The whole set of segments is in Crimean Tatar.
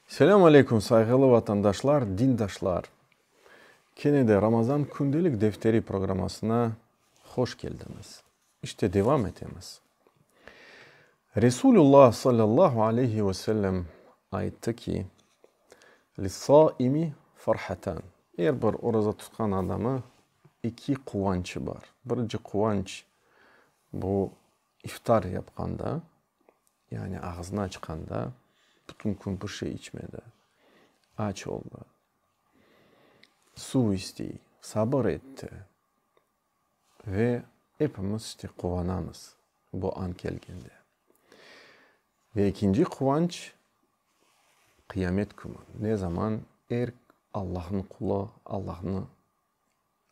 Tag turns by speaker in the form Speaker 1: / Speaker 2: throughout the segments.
Speaker 1: Selâm aleyküm, sayğılı vatandaşlar, dindaşlar! Kene de Ramazan kündelik defteri programmasına hoş keldiñiz. İşte devam etemiz. Resulullah sallallahu aleyhi ve sellem ayttı ki, Lissâimi farhatan, er bir oraza tutqan adamı eki quvançı bar. Birinci quvanç, bu iftar yapqanda. Yani ağzını açqanda bütün kün bir şey içmedi, aç oldı, suv istey, sabır etti ve epimiz işte quvanamız bu an kelgende. Ve ekinci quvanç, qıyamet künü, ne zaman er Allahnıñ qulu Allahnı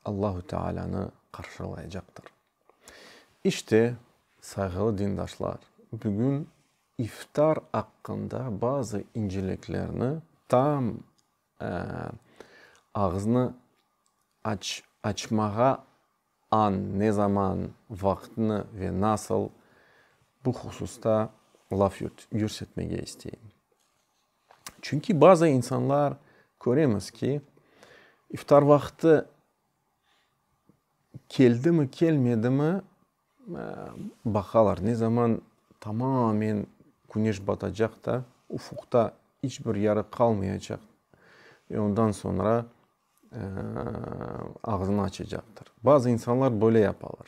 Speaker 1: Allahu Tealânı qarşılayacaqtır. İşte, sayğılı dindaşlar, bugün iftar aqqında bazı inceliklerni tam ağıznı aç açmağa an, ne zaman, vaqtnı ve nasıl bu hususta laf yürsetmege isteyim. Çünki bazı insanlar köremiz ki, iftar vaqtı keldimi, kelmedimi, baqalar, ne zaman tamamen küneş batacaq da, ufuqta iç bir yarıq qalmayacaq, ve ondan soñra ağzını açacaqtır. Bazı insanlar böyle yapalar.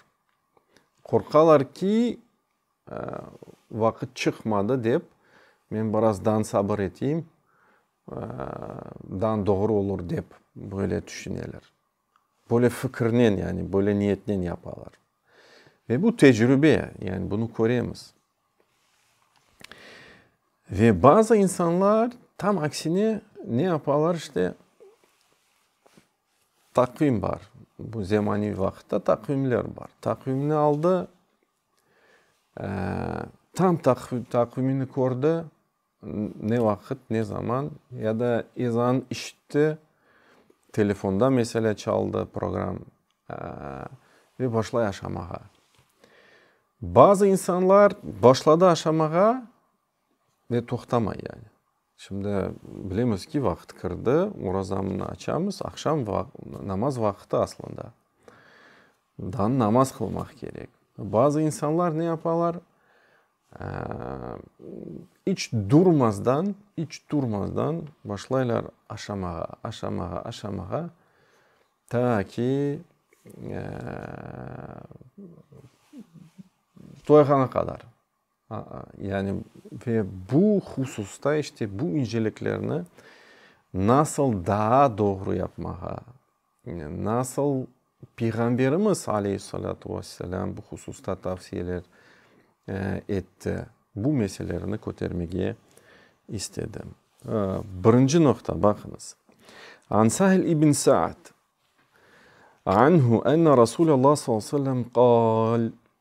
Speaker 1: Qorqalar ki, Vaqıt çıqmadı dep, men biraz dan sabır eteyim, dan doğru olur dep böyle tüşüneler. Böyle fikirnen, yani böyle niyetnen yapalar. Ve bu tecrübe, yani bunı köremiz. Ve bazı insanlar tam aksine ne yapalar, işte, taqvim bar, bu zemaneviy vaqıtta taqvimler bar. Taqvimni aldı. Tam taqvimini kördi, ne vaqıt, ne zaman ya da ezan işitti, telefonda meselâ çaldı program ve başlay aşamağa. Bazı insanlar başladı aşamağa, Ve toqtamay yani. Şimdi bilemiz ki, vaqıt kirdi, orazamnı açamız, aqşam namaz vaqıtı aslında. Daa namaz qılmaq kerek. Bazı insanlar ne yapalar, iç durmazdan, iç durmazdan başlaylar aşamağa, aşamağa, aşamağa, ta ki toyğana qadar. Yani, ve bu hususta işte bu inceliklerni nasıl daa doğru yapmağa, nasıl Peyğamberimiz aleyhi salâtu ve selâm bu hususta tavsiyeler etti, bu meselelerni kötermege istedim. Birinci noqta, baqıñız, An Sahl ibn Sa'd anhu enne Rasulallâh salâllahu aleyhi ve selâm qâl,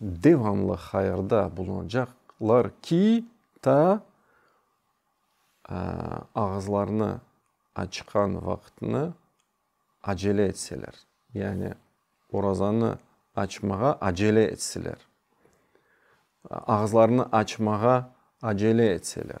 Speaker 1: devamlı hayırda bulunacaqlar ki, ta ağızlarını açqan vaqıtını acele etseler, yani orazanı açmağa acele etseler, ağızlarını açmağa acele etseler.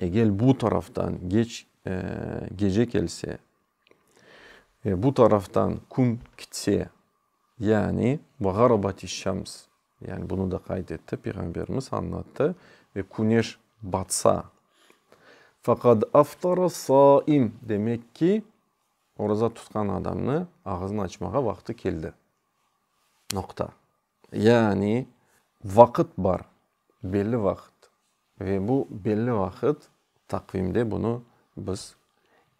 Speaker 1: Egel bu taraftan geç gece kelse ve bu taraftan kün kitse, yani ve garabati şems, yani bunu da qayd etti Peyğamberimiz, añlattı, ve küneş batsa, faqad aftara saim, demek ki, oraza tutqan adamnı ağızını açmağa vaqtı keldi. Noqta. Yani, vaqıt bar, belli vaqıt. Ve bu belli vaqıt, taqvimde bunı biz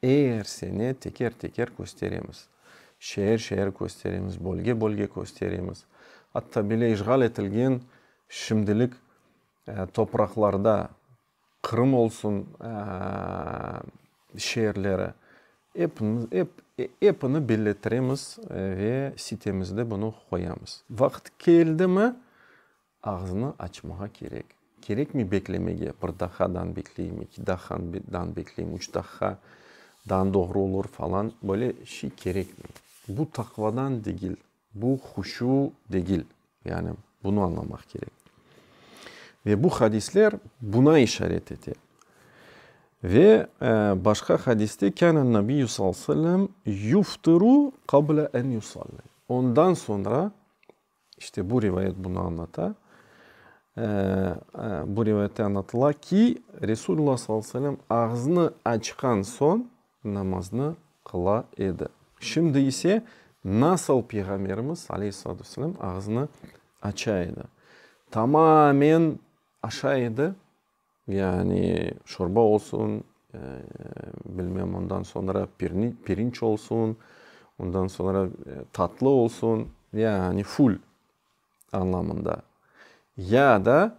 Speaker 1: er sene teker-teker kösteremiz. Şeer-şeer kösteremiz, bölge-bölge kösteremiz. Atta bile işğal etilgen şimdilik topraqlarda Qırım olsun şeerleri, epini belletiremiz ve sitemizde bunı qoyamız. Vaqıt keldimi, ağzını açmağa kerek. Kerekmi beklemege, bir daqadan bekleyim, iki daqadan bekleyim, üç daqa dan doğru olur falan, böyle şey kerekmi? Bu taqvadan degil, Bu huşu degil, yani bunı añlamaq kerek. Ve bu hadisler buna işaret ete. Ve başqa hadiste, kânel Nabiyyü sallallahu aleyhi ve sellem yuftiru qabla en yusalli, ondan soñra, işte bu rivayet bunı añlata, bu rivayette añlatıla ki, Resulullah sallallahu aleyhi ve sellem ağzını açqan soñ namaznı qıla edi. Şimdi ise nasıl Peyğamberimiz, aleyhissalatu vesselâm, ağzını aça edi? Tamamen aşa edi, yani şorba olsun, bilmem, ondan soñra pirinç olsun, ondan soñra tatlı olsun, yani full anlamında, ya da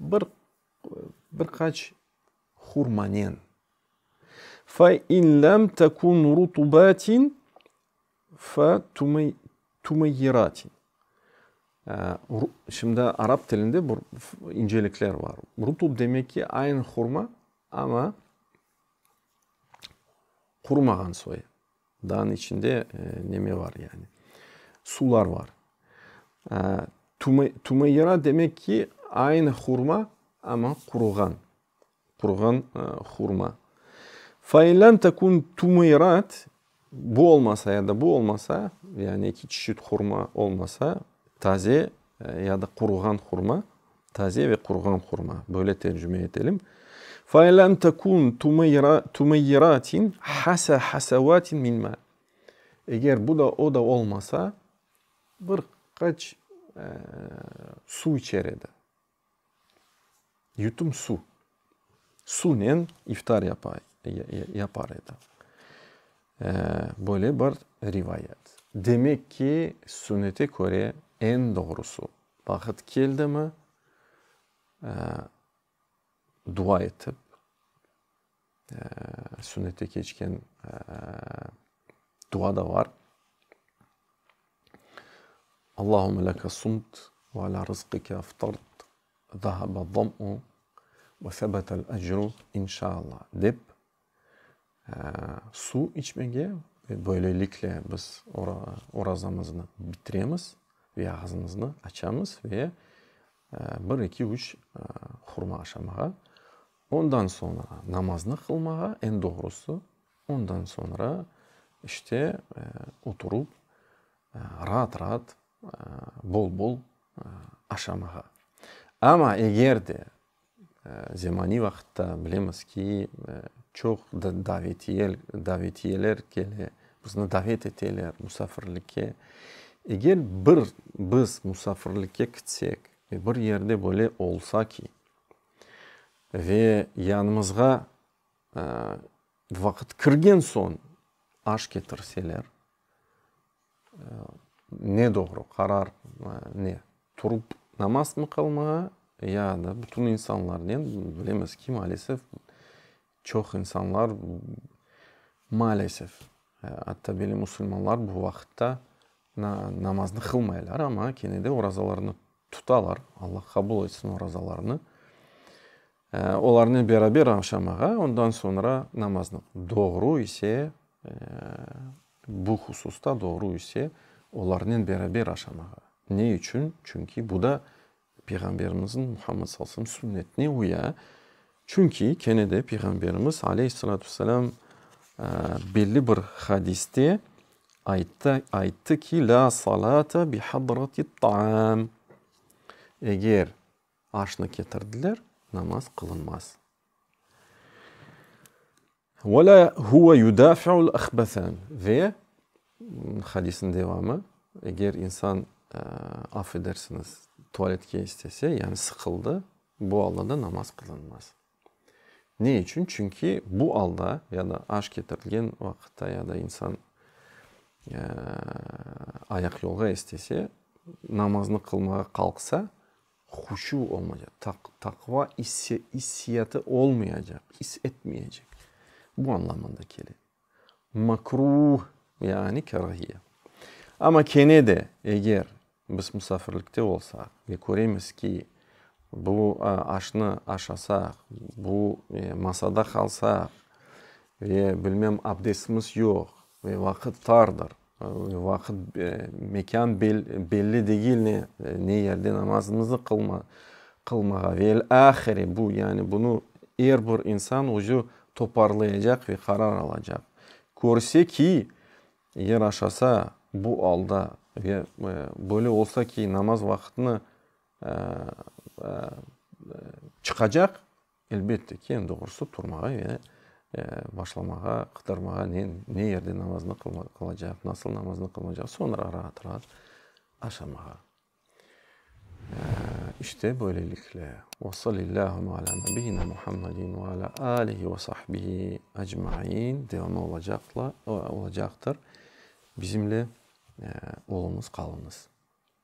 Speaker 1: bir bir qaç hurmanen fe in lem tekun rutubatin fe tümey tümeyyiratin ru şimdi arap tilinde bir incelikler bar rutub demek ki aynı hurma ama qurumağan soy Dağnıñ içinde neme var yani? Sular var. Tümeyra demek ki, aynı hurma, amma quruğan, quruğan hurma. Fe in lem tekun tümeyrat, bu olmasa ya da bu olmasa, yani eki çeşit hurma olmasa, taze Ya da quruğan hurma, taze ve quruğan hurma, böyle tercüme etelim. Fe lem tekun tumeyyiratin hasa hasavatin min ma. Eger bu da, o da olmasa, bir qaç su içer edi. Yutum suv. Suvnen iftar yapar edi. Böyle bir rivayet. Demek ki, sünnete köre, eñ doğrusu, vaqıt keldimi, dua etip, Sünnette keçken dua da bar. Allahümme leke sumt ve ala rızqike eftart, zâhâbe zam'u ve sebetel ecru inşâllâ dep, suv içmege ve böylelikle biz orazamıznı bitiremiz ve ağzımıznı açamız ve bir, eki, üç hurma aşamağa. Ondan soñra namaznı qılmağa, eñ doğrusı, ondan soñra işte oturıp, raat-raat, bol-bol aşamağa. Amma eger de zemaniy vaqıtta bilemiz ki, çoq davetiye, davetiyeler kele, bizni davet eteler musafirlikke. Eger bir biz musafirlikke kitsek, bir yerde böyle olsa ki. Ve yanımızğa vaqıt kirgen soñ aş ketirseler, ne doğru qarar ne? Turıp namazmı qılmağa ya da bütün insanlarnen, bilemiz ki, maalesef, Çoq insanlar, maalesef, atta belli musulmanlar bu vaqıtta namaznı qılmaylar, amma kene de orazalarını tutalar. Alla qabul etsin orazalarını. Olarnen beraber aşamağa, ondan soñra namaznı. Doğru ise, bu hususta doğru ise, olarnen beraber aşamağa. Ne içün? Çünki bu da Peyğamberimizniñ, Muhammed sallallahu aleyhi ve sellem, sünnetine uya, çünki kene de Peyğamberimiz, aleyhi salâtu ve selâm, belli bir hadiste ayttı, ayttı ki, lâ salâte bi hadratit taam, eger aşnı ketirdiler, namaz qılınmaz. Ve la huve yudafi'ul ahbesen ve hadisin devamı, eger insan, af edersiniz, tualetke istese, yani sıqıldı, bu alda da namaz qılınmaz. Ne içün? Çünki bu alda, ya da aş ketirilgen vaqıtta, ya da insan ayaqyolğa istese, namaznı qılmağa qalqsa, Huşu olmayacaq, taqva issiyatı olmayacaq, is etmeyecek. Bu anlamında kele. Makruh, yani kârahiye. Amma kene de, eger biz musafirlikte olsaq ve köremiz ki, bu aşnı aşasaq, bu masada qalsaq ve, bilmem, abdestimiz yoq ve vaqıt tardır, Vaqıt, mekân belli degil, ne, ne yerde namazımızı qılma, qılmağa. Velâhiri, bu, yani bunı er bir insan özü toparlayacaq ve qarar alacaq. Körse ki, eger aşasa bu alda ve böyle olsa ki, namaz vaqıtını çıqacaq, Elbette ki, eñ doğrusı turmağa ve başlamağa, qıdırmağa, ne yerde namaznı qılacaq, nasıl namaznı qılacaq, soñra raat-raat aşamağa. İşte böylelikle, ve salillâhuma alâ nebiyyina Muhammedin ve alâ âlihi ve sahbihi ecmain devamı olacaqtır. Bizimle olunız, qalunız.